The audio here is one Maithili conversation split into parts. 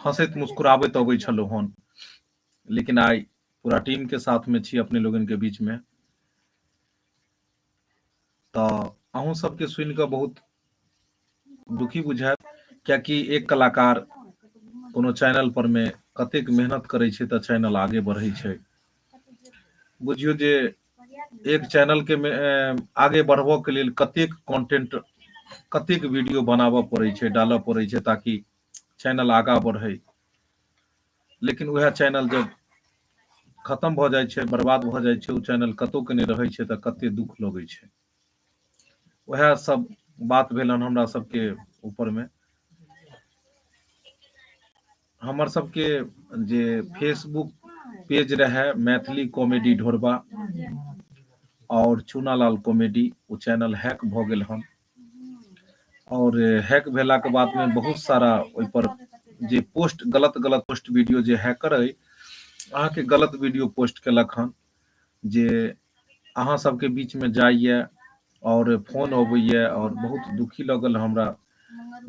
हंसैत मुस्कुराबैत अबै छलहुँ हन लेकिन आइ पूरा टीम के साथ में छी अपने लोगन के बीच में तो अहूँ सबके सुन के बहुत दुखी बुझायत कियाकि एक कलाकार कोनो चैनल पर में कतेक मेहनत करे छै तो चैनल आगे बढ़े छै बुझियो जे एक चैनल के आगे बढ़बो के लिए कतेक कंटेंट कतेक वीडियो बनाबऽ पड़े छे डालऽ पड़े छे ताकि चैनल आगा बढ़े लेकिन वह चैनल जब खत्म भ जाए छे बर्बाद भ जाए छे उ चैनल कतो के नहीं रहे छे त कते दुख लगे छे वह सब बात भेल हमरा सबके ऊपर में हमर सबके जे फेसबुक पेज रहे मैथिली कॉमेडी ढोरबा और चूनालाल कॉमेडी वो चैनल हैक भ गेल हन और हैक भेला के बाद में बहुत सारा ओहि पर जे पोस्ट गलत गलत पोस्ट वीडियो जे हैकर है अहाँ के गलत वीडियो पोस्ट केलक हन जे अहाँ सबके बीचमे जाइए आओर फोन अबैए आओर बहुत दुखी लगल हमरा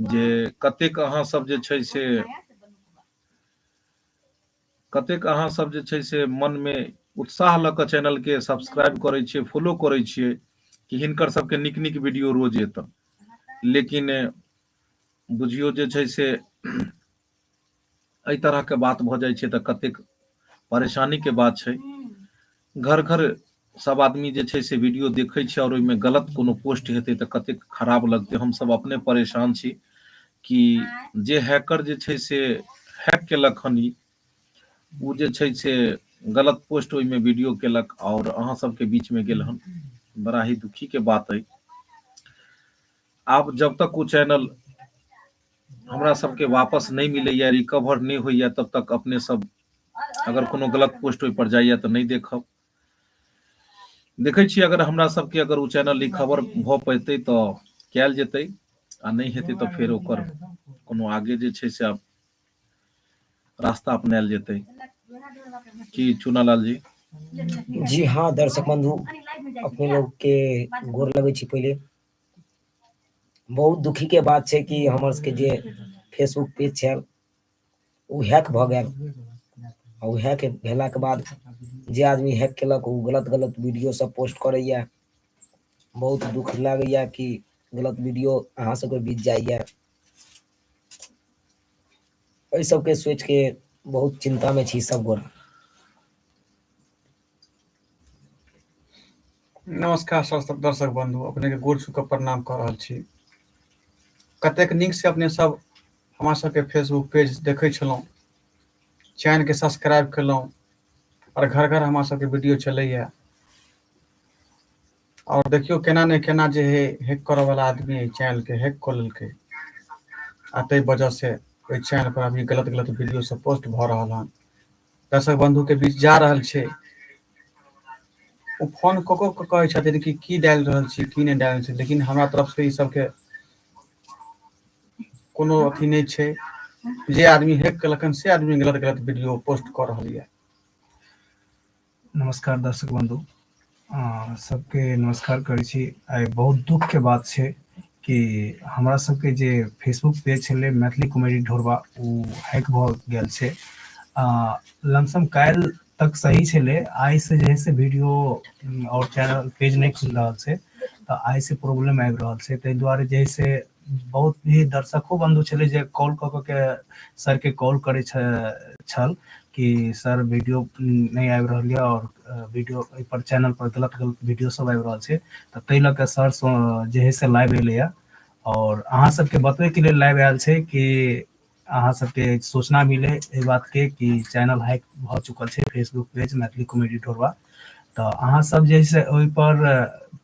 जे कतेक अहाँ सब जे छै से कतेक अहाँ सब जे छै से मनमे उत्साह लऽ कऽ चैनलके सब्सक्राइब करै छियै फॉलो करै छियै कि हिनकर सबके नीक नीक वीडियो रोज एतन लेकिन बुझियौ जे छै से एहि तरहके बात भऽ जाइ छै तऽ कतेक परेशानीके बात छै घर घर सब आदमी जे छै से वीडियो देखै छै आओर ओहिमे गलत कोनो पोस्ट हेतै तऽ कतेक खराब लगतै हमसब अपने परेशान छी कि जे हैकर जे छै से हैक केलक हन ई ओ जे छै से गलत पोस्ट ओहिमे वीडियो केलक आओर अहाँ सबके बीचमे गेल हन बड़ा ही दुखीके बात अइ आब जब तक ओ चैनल हमरा सबके वापस नहि मिलैए रिकवर नहि होइए तब तक अपने सब अगर कोनो गलत पोस्ट ओहिपर जाइए तऽ नहि देखब देखै छी अगर हमरा सबके अगर ओ चैनल रिकवर भऽ पयतै तऽ कयल जेतै आ नहि हेतै तऽ फेर ओकर कोनो आगे जे छै से आब रास्ता अपनायल जेतै की चुनालाल जी जी हाँ दर्शक बंधु अपने लोग के गोर लगे छी पहले बहुत दुखी के बात छै कि हमर सबके जे फेसबुक पेज छल ओ हैक भऽ गेल आ ओ हैक भेलाके बाद जे आदमी हैक केलक ओ गलत गलत वीडियो सब पोस्ट करैए बहुत दुख लागैए कि गलत वीडियो अहाँ सबके बीत जाइए एहि सबके सोचिके बहुत चिन्तामे छी सब गोरा नमस्कार स्वस्थ दर्शक बंधु अपने के गोर छू के प्रणाम कर रहल छी कतेक नीक से अपने सब हमरा सबके फेसबुक पेज देखै छलहुँ चैनलके सब्सक्राइब केलहुँ आओर घर घर हमरा सबके वीडियो चलैए आओर देखियौ केना ने केना जे है हैक करऽवला आदमी एहि चैनलके हैक कऽ लेलकै आ ताहि वजहसँ ओहि चैनलपर अभी गलत गलत वीडियो सब पोस्ट भऽ रहल हन दर्शक बन्धु के बीच जा रहल छै ओ फोन कऽ कऽ के कहै छथिन कि की डालि रहल छी की नहि डालल छी लेकिन हमरा तरफ से ई सबके कोनो अथी नहि छै जे आदमी हेक केलक हन से आदमी गलत गलत वीडियो पोस्ट कऽ रहल ये नमस्कार दर्शक बंधु अ सबके नमस्कार करै छी आइ बहुत दुख के बात छै कि हमरा सबके जे फेसबुक पेज छलै मैथिली कॉमेडी ढोरबा ओ हैक भऽ गेल छै आ लमसम काल्हि तक सही छलै आइ से जे है से वीडियो आओर चैनल पेज नहि खुलि रहल छै तऽ आइ से प्रॉब्लम आबि रहल छै ताहि दुआरे जे है से बहुत भी दर्शको बन्धु छलै जे कॉल कऽ कऽ के सरके कॉल करै छल कि सर वीडियो नहि आबि रहल यऽ आओर वीडियो एहिपर चैनलपर गलत गलत वीडियो सब आबि रहल छै तऽ ताहि लऽ कऽ सर जे है से लाइव एलैए आओर अहाँ सबके बतबैके लेल लाइव आयल छै कि अहाँ सबके सूचना मिले एहि बातके कि चैनल हैक भऽ चुकल छै Facebook page Maithili comedy Dhorwa तऽ अहाँ सब जे है से ओहिपर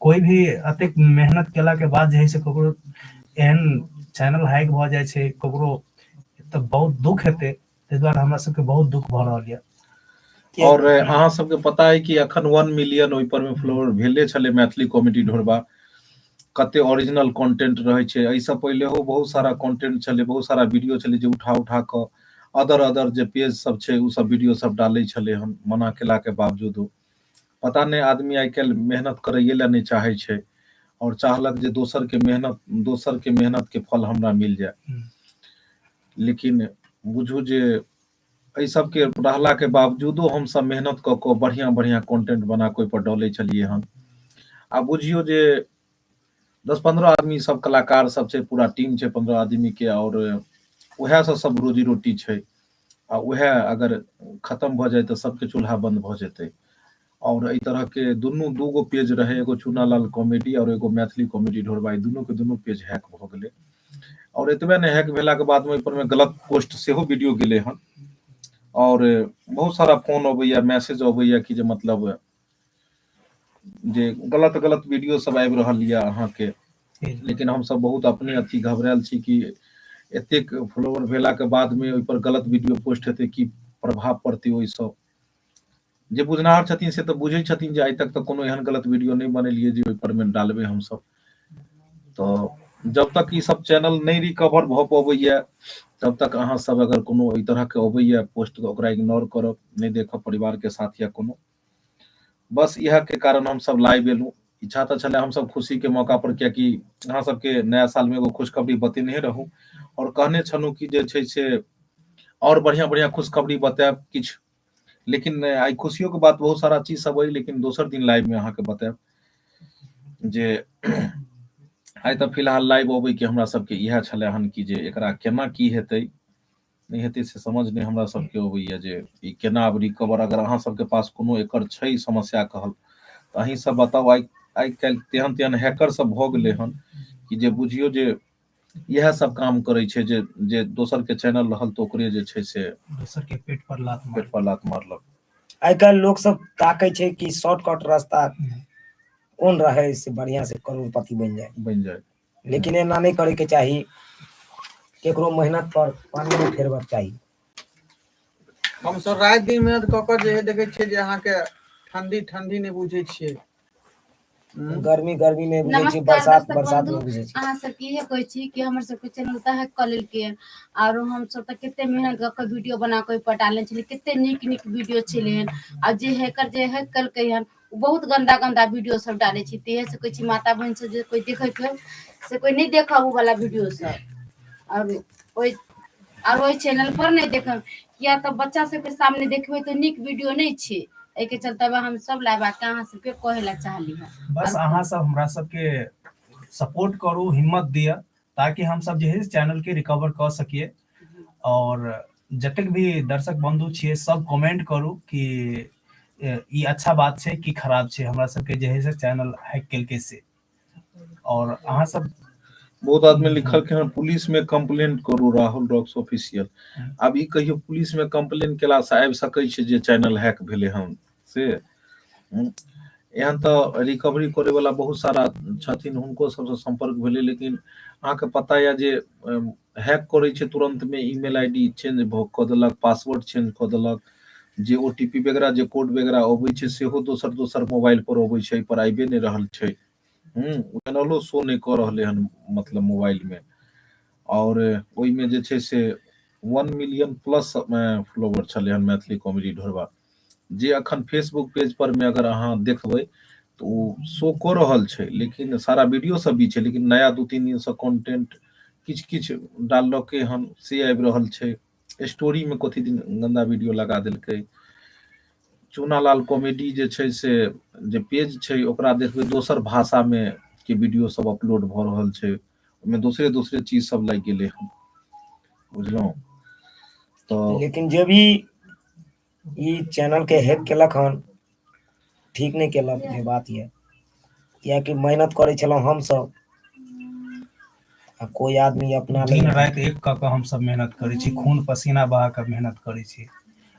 कोई भी अति मेहनत केला के बाद जे है से ककरो एहन चैनल हाइक भ जाए छै ककरो त बहुत दुख हेते ते द्वारा हमरा सबके बहुत दुख भ रहल ये और अहाँ सबके पता है कि अखन 1 मिलियन ओइ पर में फ्लोर भेले छले मैथिली कॉमेडी ढोरबा कते ओरिजिनल कंटेंट रहे छै एहि से पहले हो बहुत सारा कंटेंट छले बहुत सारा वीडियो छले जे उठा उठा क अदर अदर जे पेज सब छै उ सब वीडियो सब डाले छले हम मना केला के बावजूद पता नहि आदमी आइ काल्हि मेहनत करैए लए नहि चाहै छै आओर चाहलक जे दोसरके मेहनत दोसरके मेहनतके फल हमरा मिल जाय हम्म। लेकिन बुझू जे एहि सबके रहलाके बावजूदो हमसब मेहनत कऽ कऽ बढ़िआँ बढ़िआँ कॉन्टेंट बना कऽ ओहिपर डलै छलियै हन आ बुझियौ जे दस पन्द्रह आदमी सब कलाकार सब छै पूरा टीम छै पन्द्रह आदमीके आओर उएहसँ सब रोजी रोटी छै आ उएह अगर खतम भऽ जाय तऽ सबके चूल्हा बंद भऽ जेतै और एहि तरह के दुनू दूगो पेज रहे एगो चूनालाल कॉमेडी और एगो मैथिली कॉमेडी ढोरबाई दुनू के दुनू पेज हैक भऽ गेलै और एतबे ने हैक भेला के बाद में ओहि पर में गलत पोस्ट सेहो वीडियो गेलै हन और बहुत सारा फोन अबैया मैसेज अबैया कि जे मतलब जे गलत गलत वीडियो सब आबि रहल यऽ अहाँके लेकिन हमसब बहुत अपने अथी घबरायल छी कि एतेक फॉलोअर भेलाके बादमे ओहिपर गलत वीडियो पोस्ट हेतै की प्रभाव पड़तै ओहिसँ जे बुझनाहर छथिन से तऽ बुझै छथिन जे आइ तक तऽ कोनो एहन गलत वीडियो नहि बनेलियै जे ओहिपर मे डालबै हमसब तऽ जब तक ई सब चैनल नहि रिकवर भऽ पबैया तब तक अहाँ सब अगर कोनो एहि तरहके अबैया पोस्ट तऽ ओकरा इग्नोर करब नहि देखब परिवारके साथ या कोनो बस इएह के कारण हम सब लाइव एलहुँ इच्छा तऽ छलै हम सब खुशी के मौका पर कियाकि अहाँ सबके नया साल में एगो खुशखबरी बतेने रहूँ और कहने छलहुँ कि जे छै से और बढ़िया बढ़िया खुशखबरी बतायब किछु लेकिन आई खुशियों के बात बहुत सारा चीज सब अइ लेकिन दोसर दिन लाइव में अहाँके बतायब जे आई तऽ फिलहाल लाइव अबै के हमरा सबके इएह छलै हन कि जे एकरा केना की हेतै नहि हेतै से समझ नहि हमरा सबके अबैया जे ई केना आब रिकवर अगर अहाँ सबके पास कोनो एकर छै समस्या कहल तऽ अहीं सब बताउ आइ आइ काल्हि तेहन तेहन हैकर सब भऽ गेलै हन कि जे बुझियौ जे इएह सब काम करै छै जे जे दोसर के चैनल रहल तऽ ओकरे जे छै से दोसर के पेट पर लात पेट पर लात मारलक आइ काल्हि लोक सब ताकै छै कि शॉर्टकट रास्ता कोन रहै से बढ़िया से करोड़पति बनि जाए बनि जाए लेकिन एना नहि करयके चाही ककरो मेहनत पर पानि नहि फेरबक चाही हम सब राति दिन मेहनत कऽ कऽ जे है देखै छियै जे अहाँके ठंडी ठंडी नहि बुझै छियै हूँ गर्मी गर्मी नहि बुझै छी नमस्कार बरसात दर्शक बरसात बंधु नहि बुझै छी अहाँ सबके इहे कहै छी कि हमर सबके चैनल त हैक कऽ लेलकै ये आरो हम सब तऽ कते मेहनत कऽ के वीडियो बना के ओहि पर डालने छलियै कते नीक नीक वीडियो छलै हन आ जे हैकर जे हैक केलकै हन ओ बहुत गन्दा गन्दा वीडियो सब डालै छै तहिये से कहै छी माता बहिन सब जे कोइ देखैत होय से कोइ नहि देखब ओ वला वीडियो सब आओर ओहि आर ओहि चैनल पर नहि देखब किया तऽ बच्चा सबके सामने देखबै तऽ नीक वीडियो नहि छै एहिके चलते हम सब लए बात अहाँ सबके कहै लए चाहली ह बस अहाँ सब हमरा सबके सपोर्ट करू हिम्मत दिअ ताकि हम सब जे है चैनल के रिकवर कर सकिए और जतक भी दर्शक बंधु छे सब कमेंट करू कि ये अच्छा बात छे कि खराब छे हमरा सब के जे है चैनल हैक कल के से और अहा सब बहुत आदमी लिखल के पुलिस में कंप्लेन करू राहुल रॉक्स ऑफिशियल अब ई कहियो पुलिस में कंप्लेन केला से आबि सके छे जे चैनल हैक भेले हम से एहन तऽ रिकवरी करे वाला बहुत सारा छथिन हुनको सबसँ संपर्क भेलै लेकिन अहाँके पता यऽ जे हैक करै छै तुरंत में ईमेल आईडी चेंज कऽ देलक पासवर्ड चेंज कऽ देलक जे ओ टी पी वगैरह जे कोड वगैरह अबै छै सेहो दोसर दोसर मोबाइल पर अबै छै पर आबे नहि रहल छै हूँ चैनलो शो नहि कऽ रहलै हन मतलब मोबाइल में और ओहिमे जे छै से वन मिलियन प्लस फॉलोवर छलै हन मैथिली कॉमेडी ढोरबा जे अखन फेसबुक पेज पर में अगर अहाँ देखबै तऽ ओ शो कऽ रहल छै लेकिन सारा वीडियो सब भी छै लेकिन नया दू तीन दिनसँ कॉन्टेंट किछु किछु डाललकै हन से आबि रहल छै स्टोरीमे कथी दिन गन्दा वीडियो लगा देलकै चूनालाल कॉमेडी जे छै से जे पेज छै ओकरा देखबै दोसर भाषामे के वीडियो सब अपलोड भऽ रहल छै ओहिमे दोसरे दोसरे चीज सब लागि गेलै हन बुझलहुँ तऽ लेकिन जे भी ई चैनल के हैक केलक हन ठीक नहि केलक जे बात यऽ किएकि मेहनत करै छलहुँ हमसभ आ कोइ आदमी अपना लए दिन राति एक कऽ कऽ हमसभ मेहनत करै छी खून पसीना बहा कऽ मेहनत करै छी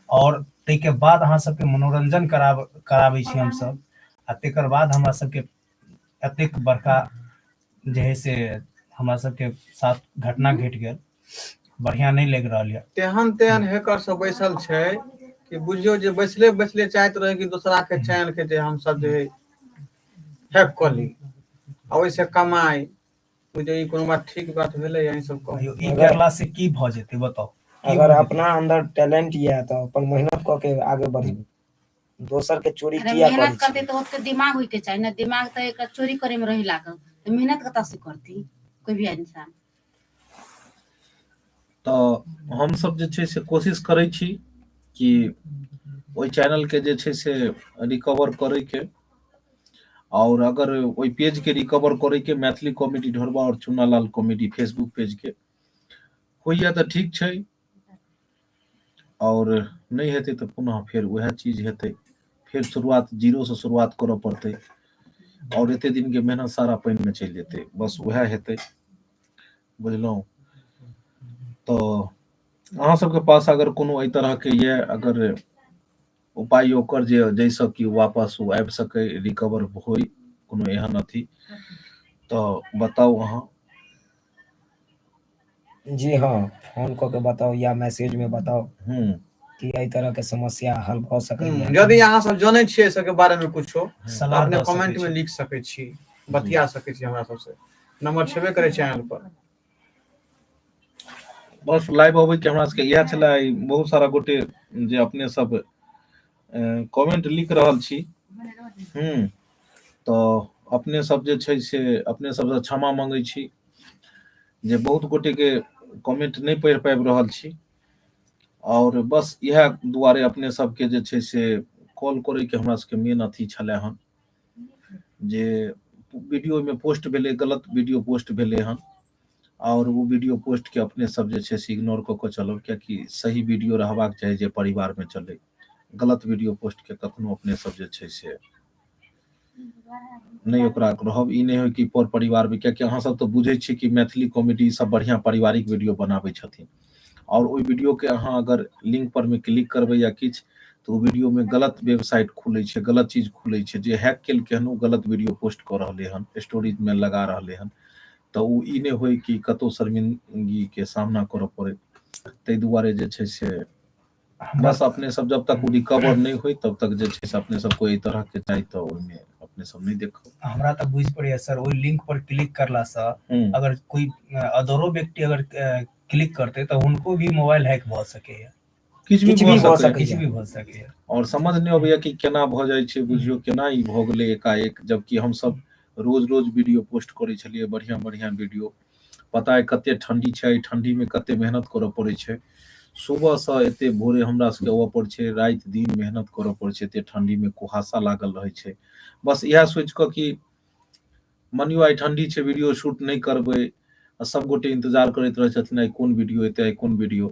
आओर ताहिके बाद अहाँ सभके मनोरंजन कराब कराबै छी हमसभ आ तेकर बाद हमरा सभके एतेक बड़का जे है से हमरा सबके साथ घटना घटि गेल बढ़िया नहि लागि रहल यऽ तेहन तेहन हैकर सब बैसल छै कि बुझियो जे बैसले बैसले चाहैत रहे कि दोसरा के चैनल के जे हम सब जे हैक कर ली आ ओहिसँ कमाई बुझियो ई कोनो बात ठीक बात भेलै अहीं सब कहू कहियो ई करला से की भऽ जेतै बताउ की अगर भऽ जेतै? अपना अंदर टैलेंट यऽ तऽ अपन मेहनत कऽ के आगे बढ़ू दोसर के चोरी अरे किया करै मेहनत करतै छियै तऽ ओते दिमाग होयके चाही ने दिमाग तऽ एकरा चोरी करे मे रहे लागल तऽ मेहनत कतऽ से करतै कोइ भी इन्सान तऽ हमसभ जे छै से कोशिश करै छी कि ओहि चैनल के जे छै से रिकवर करे के और अगर ओहि पेज के रिकवर करे के मैथिली कॉमेडी ढोरबा और चुनालाल कॉमेडी फेसबुक पेज के होइया तऽ ठीक छै और नहीं हेतै तो पुनः फिर वह चीज हेतै फिर शुरुआत जीरो से शुरुआत करऽ पड़तै और एते दिन के मेहनत सारा पानि में चलि जेतै बस वह हेतै बुझलहुँ तो अहाँ सबके पास अगर कोनो एहि तरह के ये अगर उपाय ओकर जे जैसे कि वापस ओ आबि सकै रिकवर होय कोनो एहन अथी तो बताउ अहाँ जी हँ फोन कऽ के बताउ या मैसेज मे बताउ हूँ कि एहि तरह के समस्या हल भऽ हूँ सकैया यदि अहाँ सब जनै छियै एहि सबके बारे मे कुछो तऽ सलाह अपने दऽ कमेंट सकैत मे छी लिख सकै छी जी बतिया सकै छी हमरा सबसे नम्बर छेबे करै छै अहां पर बस लाइव अबै के हमरा सबके इएह छले बहुत सारा गोटे जे अपने सब कमेंट लिख रहल छी हम्म तो अपने सब जे छै से अपने सब से क्षमा मांगे छी जे बहुत गोटे के कमेंट नहीं पढ़ पाबि रहल छी और बस यह दुआरे अपने सब के जे छै से कॉल करे के हमरा सबके मेन अथी छले हन जे वीडियो में पोस्ट भेले गलत वीडियो पोस्ट भेले हन और वो वीडियो पोस्ट के अपने सब जे छै से इग्नोर क के चलब क्या कि सही वीडियो रहबाक चाही जे परिवार में चले गलत वीडियो पोस्ट के कखनो अपने सब जे छै से नहीं ओकरा रहब ई नहीं हो कि पर परिवार में क्या कि अहाँ सब तो बुझे छी कि मैथिली कॉमेडी सब बढ़िया पारिवारिक वीडियो बनाबे छथिन और ओहि वीडियो के अहाँ अगर लिंक पर में क्लिक करबे या किछ तो वीडियो में गलत वेबसाइट खुले छे गलत चीज खुले छे जे हैक केल के हन गलत वीडियो पोस्ट कर रहले हन स्टोरेज में लगा रहले हन तो उ ई ने होई कि कतो शर्मिंदगी के सामना करे पड़े ते दुआरे जे छे से बस अपने सब जब तक रिकवर नहीं हुई तब तक जे छै से अपने सब कोई तरह के चाही तो ओहिमे अपने सब नहीं देखो हमरा तक बुझ पड़े सर ओहि लिंक पर क्लिक करला से हम्म। अगर कोई अदरो व्यक्ति अगर क्लिक करते तो उनको भी मोबाइल हैक भ सके है किछ भी भ सके किछ भी भ सके है और समझ नहीं अबैया कि केना भ जाय छै बुझियो केना ई भ गेले एकाएक जबकि हम सब रोज रोज वीडियो पोस्ट करे छलिए बढ़िया बढ़िया वीडियो पता अइ कते ठंडी छै एहि ठंडी में कते मेहनत करऽ पड़ै छै सुबह से एते भोरे हमरा सबके अबऽ पड़ै छै रात दिन मेहनत करऽ पड़ै छै एते ठंडी में कुहासा लागल रहै छै बस इएह सोचि कऽ कि मनियो आइ ठंडी छै वीडियो शूट नहि करबै आ सब गोटे इंतजार करैत रहै छथिन आइ कोन वीडियो एतै आइ कोन वीडियो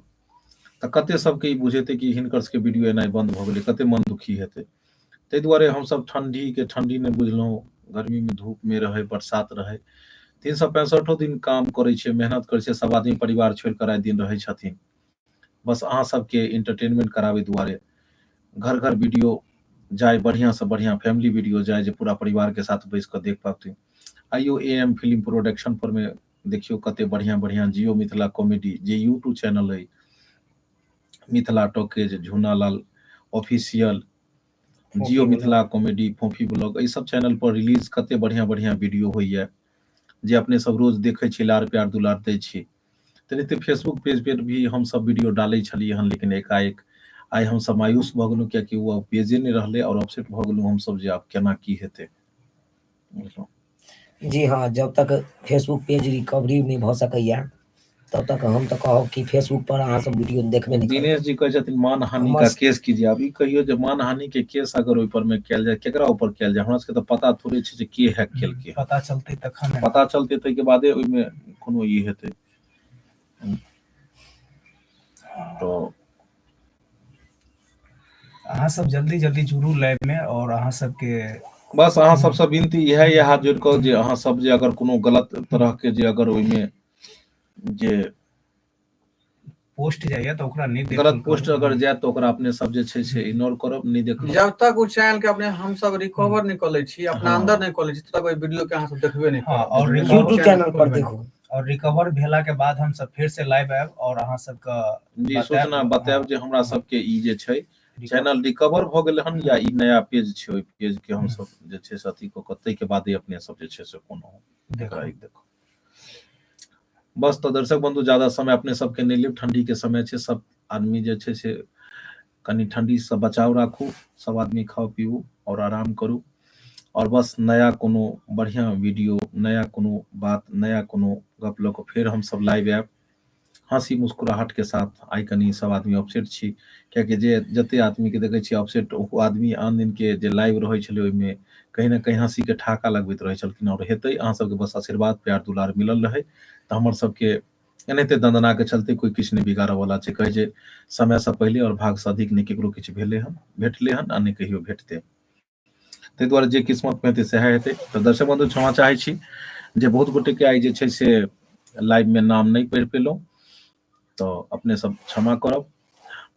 तऽ कते सबके ई बुझेतै कि हिनकर सबके वीडियो एनाइ बंद भऽ गेलै कते मन दुखी हेतै ताहि दुआरे हमसभ ठण्डीके ठण्डी नहि बुझलहुँ गर्मीमे धूपमे रहै बरसात रहै तीन सए पैंसठो दिन काम करै छै मेहनत करै छै सभ आदमी परिवार छोड़ि कऽ राति दिन रहै छथिन बस अहाँ सभके इंटरटेनमेंट कराबै दुआरे घर घर वीडियो जाय बढ़िआँसँ बढ़िआँ फैमिली वीडियो जाय जे पूरा परिवारके साथ बैस कऽ देख पाबथिन आइयो ए एम फिल्म प्रोडक्शन परमे देखियौ कते बढ़िआँ बढ़िआँ जियो मिथिला कॉमेडी जे यूट्यूब चैनल अइ Mithila talkies Jhunalal official Jiyo Mithila comedy फोफी ब्लॉग एहि सब चैनल पर रिलीज कते बढ़िया बढ़िया वीडियो होइए जे अपने सब रोज देखै छी लार प्यार दुलार दै छी तेनाहिते फेसबुक पेज पर भी हमसब वीडियो डालै छलियै हन लेकिन एकाएक आइ हमसब मायूस भऽ गेलहुँ कियाकि ओ पेजे नहि रहलै आओर अपसेट भऽ गेलहुँ हमसब जे आब केना की हेतै बुझलहुँ जी हँ जब तक फेसबुक पेज रिकवरी नहि भऽ सकैया तब तक हम तऽ कहब कि फेसबुक पर अहाँ सब वीडियो देख दिनेश जी कहै छथिन मान हानि का केस कीजिए अभी कहियौ जे मानहानि के केस अगर ओहि पर मे कयल जाय केकरा ऊपर कयल जाय हमरा सबके तऽ पता थोड़े छै जे के हैक केलकै हँ पता चलतै तखन ने पता चलतै ताहिके बादे ओहिमे कोनो ई हेतै तऽ अहाँ सब जल्दी जल्दी जुड़ू लाइव में और अहाँ सबके बस अहाँ सबसँ विनती इएह यए हाथ जोड़ि कऽ जे अहाँ सब जे अगर कोनो गलत तरहके जे अगर ओहिमे जे पोस्ट जाइए तऽ ओकरा नहि देखल गलत करू। पोस्ट अगर जाय तऽ ओकरा अपने सब जे छै से इग्नोर करब नहि देखब जब तक ओ चैनल के अपने हम सब रिकवर नहीं कर ले छी अपना हाँ। अंदर नहीं कर ले छी तब तक ओई वीडियो के अहाँ सब देखबे नहीं हाँ, और करब। YouTube YouTube चैनल पर देखू और रिकवर भेला के बाद हम सब फिर से लाइव आएब और अहाँ सब के जी बताएब। सूचना बताएब जे हमरा सबके ई जे छै Recover- चैनल रिकवर भ गेल हन या ई नया पेज छै ओहि पेज के हम सब जे छै से अथी क के ताहि के बादे अपने सब जे छै से कोनो देखो। एकरा एक देखो बस तऽ दर्शक बंधु ज्यादा समय अपने सबके नहि लेब ठंडी के समय छै सब आदमी जे छै से कनी ठंडी स बचाव राखू सब आदमी खाउ पीउ और आराम करू और बस नया कोनो बढ़िया वीडियो नया कोनो बात नया कोनो गप ल क फेर हम सब लाइव आयब हंसी मुस्कुराहट के साथ आइ कनी सब आदमी अपसेट छी किया कि जे जते आदमी के देखे छी अपसेट ओ आदमी आन दिन के जे लाइव रहै छले ओहि में कहीं ना कहीं हंसी के ठहाका लगबैत रहै छलखिन और हेतै अहां सब के बस आशीर्वाद प्यार दुलार मिलल रहै त हमर सब के एनाहिते दंदना के चलते कोई किछु नहि बिगाड़ऽ वाला छै कहे जे समय से पहिले और भाग से अधिक नहि केकरो किछु भेले हन भेटले हन आ नहि कहियो भेटते ताहि दुआरे जे किस्मत में हेतै सएह हेतै तऽ दर्शक बंधु क्षमा चाहे छी जे बहुत गोटे के आइ जे छै से लाइव में नाम नहि पढ़ि पेलहुँ तो अपने सब क्षमा करब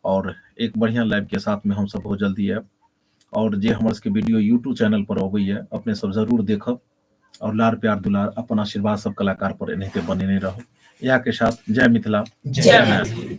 और एक बढ़िया लाइव के साथ में हम सब बहुत जल्दी आयब और जे हमर सबके वीडियो यूट्यूब चैनल पर अबैया अपने सब जरूर देखब और लार प्यार दुलार अपन आशीर्वाद सब कलाकार पर एनाहिते बनेने रहो इएह के साथ जय मिथिला जय मैथिली